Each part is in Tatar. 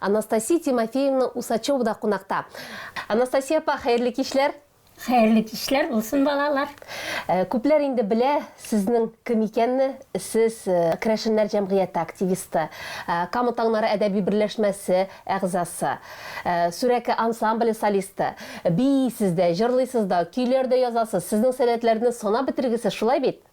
Анастасия Тимофеевна Усачева да кунакта. Анастасия апа, хәерле кичләр! Хәерле кичләр булсын, балалар! Э, күпләр инде белә сезнең кем икәнне. Сез э, Крәшеннәр җәмгыяте активисты, э, Кама таңнары әдәби берләшмәсе әгъзасы, Сүрәке ансамбле солисты. Бийсез дә, җырлыйсыз да, көйләр дә язасыз. Сезнең сәләтләрне санап бетергесез, шулай бит?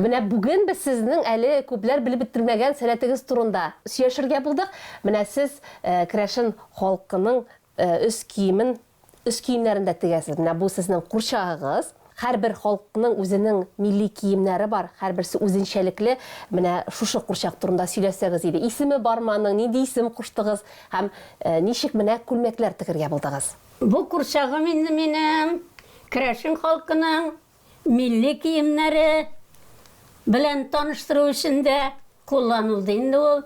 Менә бүген без сезнең әле күпләр белеп бетермәгән сәләтегез турында сөйләшергә булдык. Менә сез э, керәшен халкының э, өс киемен Өс киемнәрен дә тегәсез. Менә бу сезнең курчагыгыз. Һәрбер халыкның үзенең милли киемнәре бар, һәрберсе үзенчәлекле. Менә шушы курчак турында сөйләсәгез иде. Исеме бармы аның, нинди исем куштыгыз һәм ничек менә күлмәкләр тегергә булдыгыз? Бу курчагым инде минем керәшен халкының милли киемнәре белән таныштыру өчен дә кулланылды инде ул.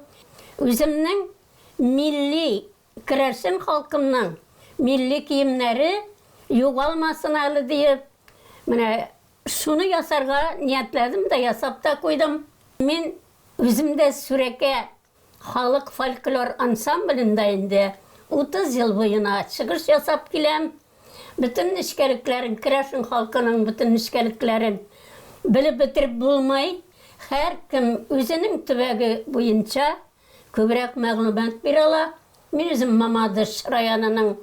Үземнең милли Керәшен халкымның милли киемнәре югалмасын әле диеп, менә шуны ясарга ниятләдем дә, ясап та куйдым. Мин үзем дә Сүрәкә халык фольклор ансамблендә инде 30 ел буена чыгыш ясап киләм. Бөтен нечкәлекләрен, керәшен халкының бөтен нечкәлекләрен белеп бетереп булмый. Һәркем үзенең төбәге буенча Күбрәк мәгълүмат бирә ала. Мин үзем Мамадыш районының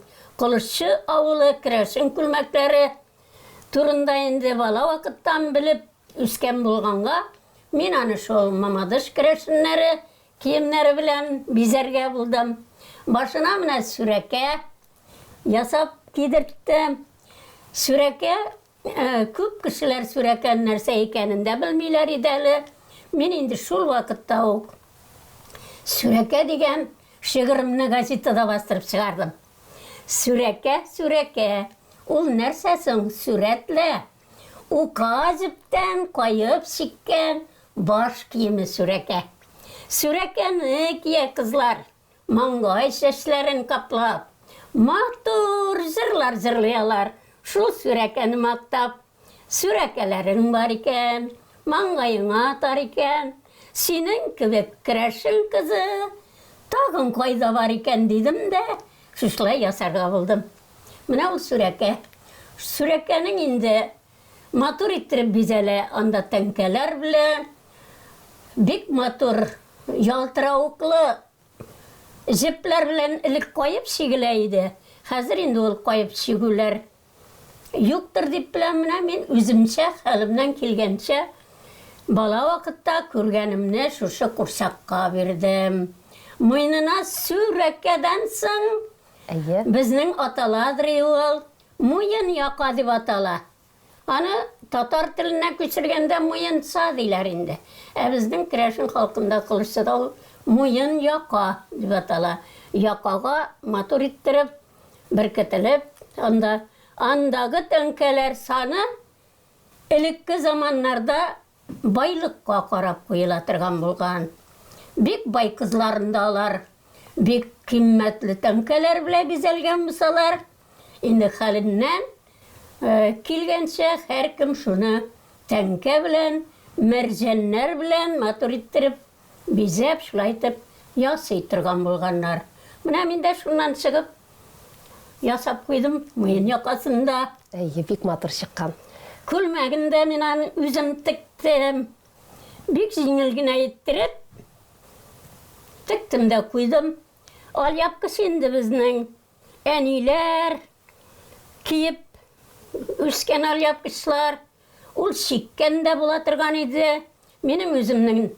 Колышчы авылы керәшен күлмәкләре турында инде бала вакыттан белеп үскән булганга, мин аны шул Мамадыш керәшеннәре киемнәре белән бизәргә булдым. Башына менә сүрәкә ясап кидерттем. Сүрәкә Күп кешеләр сүрәкән нәрсә икәнен дә белмиләр иде әле. Мин инде шул вакытта ук Сүрәкә дигән шигыремне газетада бастырып чыгардым. Сүрәкә, сүрәкә. Ул нәрсә соң? Сүрәтлә. Ука җептән каеп чиккән баш киеме сүрәкә. Сүрәкәне кия кызлар. Маңгай чәчләрен каплап. Матур җырлар җырлый алар, шул Сүрәкәне мактап. Сүрәкәләрең бар икән, маңгаеңа атар икән, синең кебек керәшен кызы тагын кайда бар икән, дидем дә, шушылай ясарга булдым. Менә ул Сүрәкә. Сүрәкәнең инде Матур иттереп бизәлә анда тәңкәләр белән. Бик матур ялтыравыклы җепләр белән элек каеп чигелә иде. Хәзер инде ул каеп чигүләр юктыр дип беләм. Менә мин үземчә, хәлемнән килгәнчә бала вакытта күргәнемне шушы курчакка бирдем. Муенына сүрәкәдән соң безнең аталадыр ул. Муен яка дип атала. Аны татар теленнән күчергәндә муенца диләр инде. Ә безнең керәшен халкында кылыччыда ул муен яка дип атала. Якага матур иттереп, беркетелеп, анда, андагы тәңкәләр саны элекке заманнарда Байлыкка карап куела торган булган. Бик бай кызларын да алар бик кыйммәтле тәңкәләр белән бизәлгән булсалар, инде хәленнән килгәнчә һәркем шуны тәңкә белән, мәрҗәннәр белән матур иттереп Бизәп, шулай итеп ясый торган булганнар. Менә мин дә шуннан чыгып ясап куйдым, муен якасын да. Әйе, бик матур чыккан. Күлмәген дә мин аны үзем тектем. Бик җиңел генә иттереп тектем дә куйдым. Алъяпкыч инде безнең әниләр киеп үскән алъяпкычлар. Ул чиккән дә була торган иде. Минем үземнең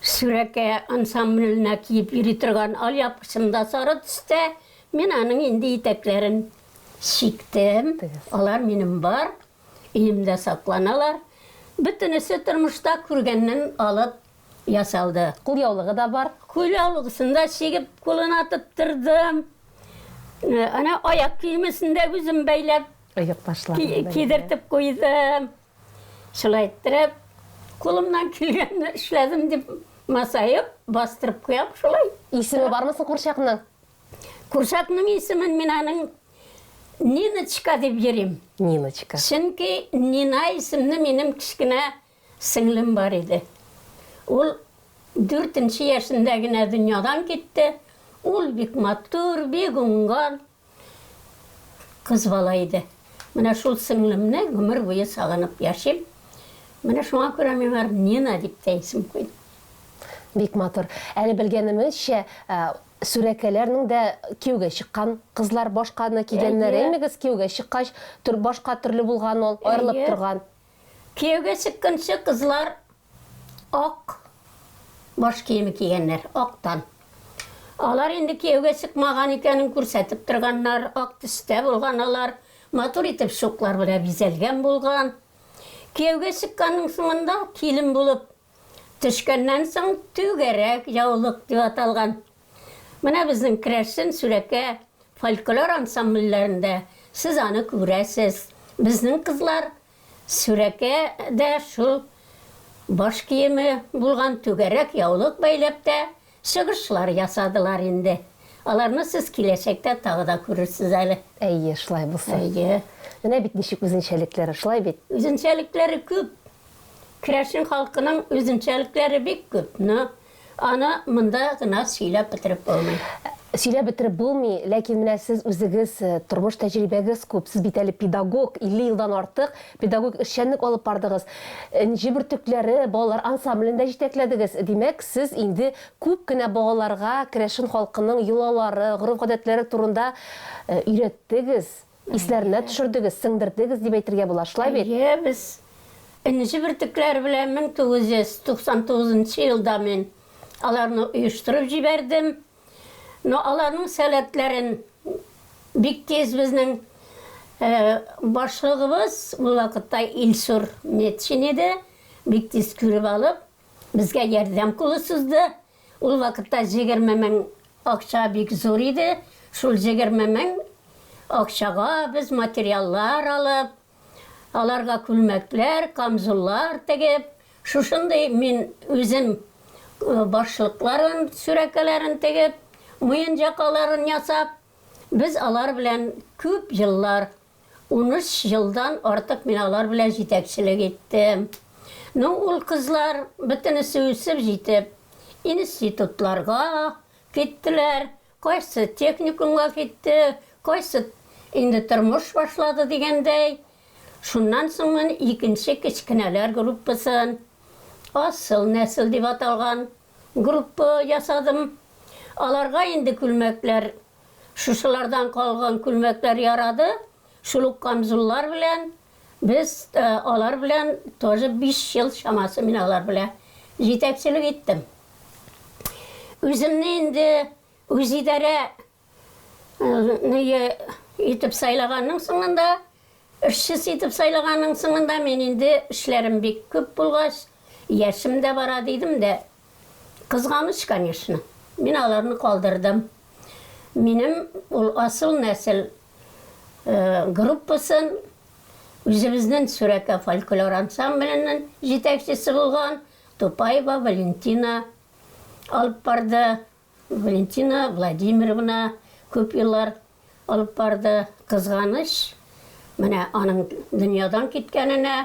Сүрәкә ансамбленә киеп йөри торган алъяпкычым да сары төстә. Мин аның инде итәкләрен чиктем. Алар минем бар, өемдә сакланалар. Бөтенесе тормышта күргәннән алып ясалды. Кулъяулыгы да бар. Кулъяулыгысын да чигеп, кулына тоттырдым. Әнә аяк киемесен дә үзем бәйләп. Оекбашларын кидертеп куйдым. Шулай иттереп, кулымнан килгәнне эшләдем дип масаеп, бастырып куям шулай. Исеме бармы соң курчакның? Курчакның исемен мин аның Ниночка дип йөрим. Ниночка. Чөнки Нина исемле минем кечкенә сеңлем бар иде. Ул дүртенче яшендә генә дөньядан китте. Ул бик матур, бик уңган, Кыз бала иде. Менә шул сеңлемне гомер буе сагынып яшим. Менә шуңа күрә миңа Нина дип тә исем куйды. Бик матур. Әле белгәнемезчә, Сүрәкәләрнең дә кияүгә чыккан кызлар башканы кигәннәр, Әйе. әймегез? Кияүгә чыккач, төр башка төрле булган ул, аерылып Әйе. торган. Кияүгә чыкканчы кызлар Ак баш киеме кигәннәр, актан. Алар инде кияүгә чыкмаган икәнен күрсәтеп торганнар, ак төстә булган алар, матур итеп шуклар белән бизәлгән булган. Кияүгә чыкканның соңында килен булып төшкәннән соң түгәрәк, яулык дип аталган. Менә безнең керәшен, сүрәкә, фольклор ансамбльләрендә сез аны күрәсез. Безнең кызлар Сүрәкә дә шул баш киеме булган түгәрәк яулык бәйләп тә чыгышлар ясадылар инде. Аларны сез киләчәктә тагы да күрерсез әле. Әйе, шулай булсын. Әйе. Менә бит ничек үзенчәлекләре, шулай бит? Үзенчәлекләре күп. Керәшен халкының үзенчәлекләре бик күп, но Аны монда гына сөйләп бетереп булмый. Сөйләп бетереп булмый, ләкин менә сез үзегез, тормыш тәҗрибәгез күп, сез бит әле педагог, 50 елдан артык педагогик эшчәнлек алып бардыгыз. Энҗе бөртекләре балалар ансамблен дә җитәкләдегез. Димәк, сез инде күп кенә балаларга керәшен халкының йолалары, гореф-гадәтләре турында өйрәттегез. Исләренә төшердегез, сеңдердегез дип әйтергә була, шулай бит? Әйе, без Энҗе бөртекләре белән 1999 нчы елда мин аларны оештырып җибәрдем. Ну, аларның сәләтләрен бик тиз безнең башлыгыбыз, ул вакытта Илсур Метшин иде, бик тиз күреп алып, безгә ярдәм кулы сузды. Ул вакытта җегерме мең акча бик зур иде. Шул җегерме мең акчага без материаллар алып, аларга күлмәкләр, камзуллар тегеп, шушындый мин үзем башлыкларын, сүрәкәләрен тегеп, муенҗакаларын ясап, без алар белән күп еллар Унөч елдан артык мин алар белән җитәкчелек иттем. Ну, ул кызлар, бөтенесе үсеп җитеп, институтларга киттеләр, кайсы техникумга китте, кайсы инде тормыш башлады дигәндәй. Шуннан соң мин икенче кечкенәләр группасын, асыл нәсел дип аталган группа ясадым. Аларга инде күлмәкләр Шушылардан калган күлмәкләр ярады, шул ук камзуллар белән без алар белән тоже биш ел чамасы мин алар белә җитәкчелек иттем. Үземне инде үзидарә ные итеп сайлаганның соңында, эшчесе итеп сайлаганның соңында мин инде эшләрем бик күп булгач, яшем дә бара дидем дә, Кызганыч, конечно. Мин аларны калдырдым. Минем ул асыл нәсел группасын, үзебезнен Сүрәкә фольклор ансамбленен җитәкчесе булган Тупаева Валентина алып барды. Валентина Владимировна күп еллар алып барды. Кызганыч, менә аның дөньядан киткәненә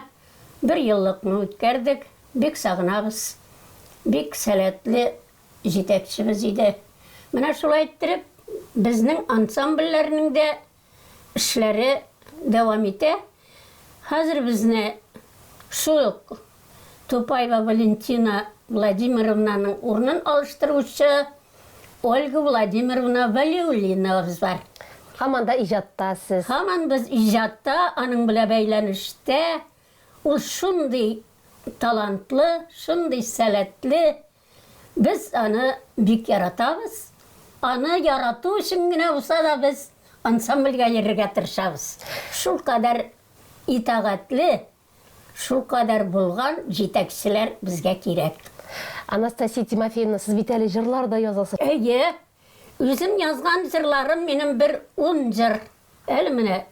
бер еллыкны үткәрдек. Бик сагынабыз. Бик сәләтле җитәкчебез иде. Менә шулай иттереп, безнең ансамбльләрнең дә эшләре дәвам итә. Хәзер безне шул ук Тупаева Валентина Владимировнаның урынын алыштыручы Ольга Владимировна Вәлиуллиновабыз бар. Һаман да иҗатта сез. Һаман без иҗатта, аның белән бәйләнештә. Ул шундый талантлы, шундый сәләтле, Без аны бик яратабыз. Аны ярату өчен генә булса да без ансамбльгә йөрергә тырышабыз. Шулкадәр итагатьле, шулкадәр булган җитәкчеләр безгә кирәк. Анастасия Тимофеевна, сез бит әле җырлар да язасыз. Әйе. Үзем язган җырларым минем бер ун җыр. Әле менә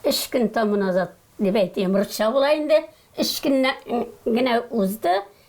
өч көн тәму назад, дип әйтим, русча була инде, өч көн генә узды,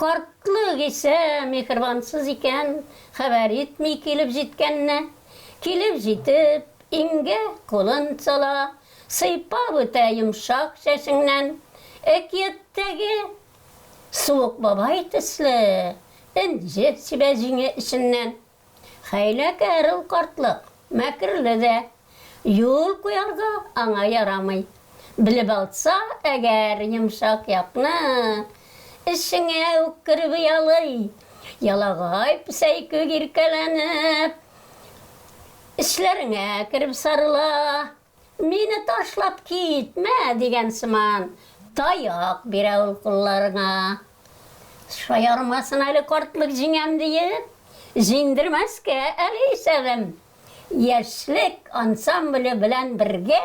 Картлык исә миһербансыз икән, хәбәр итми килеп җиткәнне. Килеп җитеп, иңгә кулын сала, сыйпап үтә йомшак чәчеңнән. Әкияттәге Суык бабай төсле энҗе сибә җиңе эченнән. Хәйләкәр ул картлык, мәкерле дә. Юл куярга аңа ярамый. Белеп алса әгәр йомшак якны, Эчеңә үк кереп оялый. Ялагай песәй күк иркәләнеп, Эчләреңә кереп сарыла. Мине ташлап китмә! дигән сыман таяк бирә ул кулларыңа. Шаярмасын әле картлык җиңәм диеп, җиңдермәскә әле исәбем. Яшьлек ансамбле белән бергә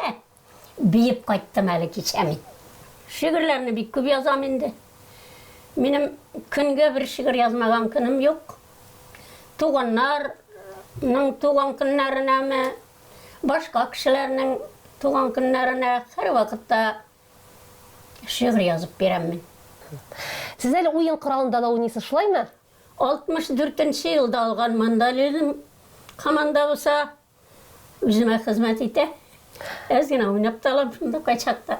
биеп кайттым әле кичә мин. Шигырьләрне бик күп язам инде. Минем көнгә бер шигырь язмаган көнем юк. Туганнарның туган көннәренәме, Башка кешеләрнең туган көннәренә һәрвакытта шигырь язып бирәм мин. Сез әле уен коралында да уйныйсыз, шулаймы? 64 нче елда алган мандализм команда булса, үземә хезмәт итә. Әз генә уйнап та алам шунда кайчакта.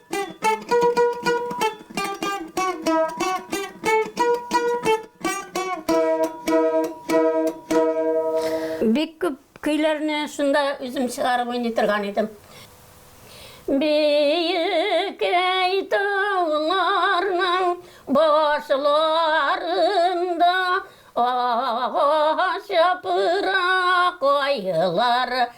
Бик күп көйләрне шунда үзем чыгарып уйный торган идем. Бейек әйтуларның башларында агач япырак айлар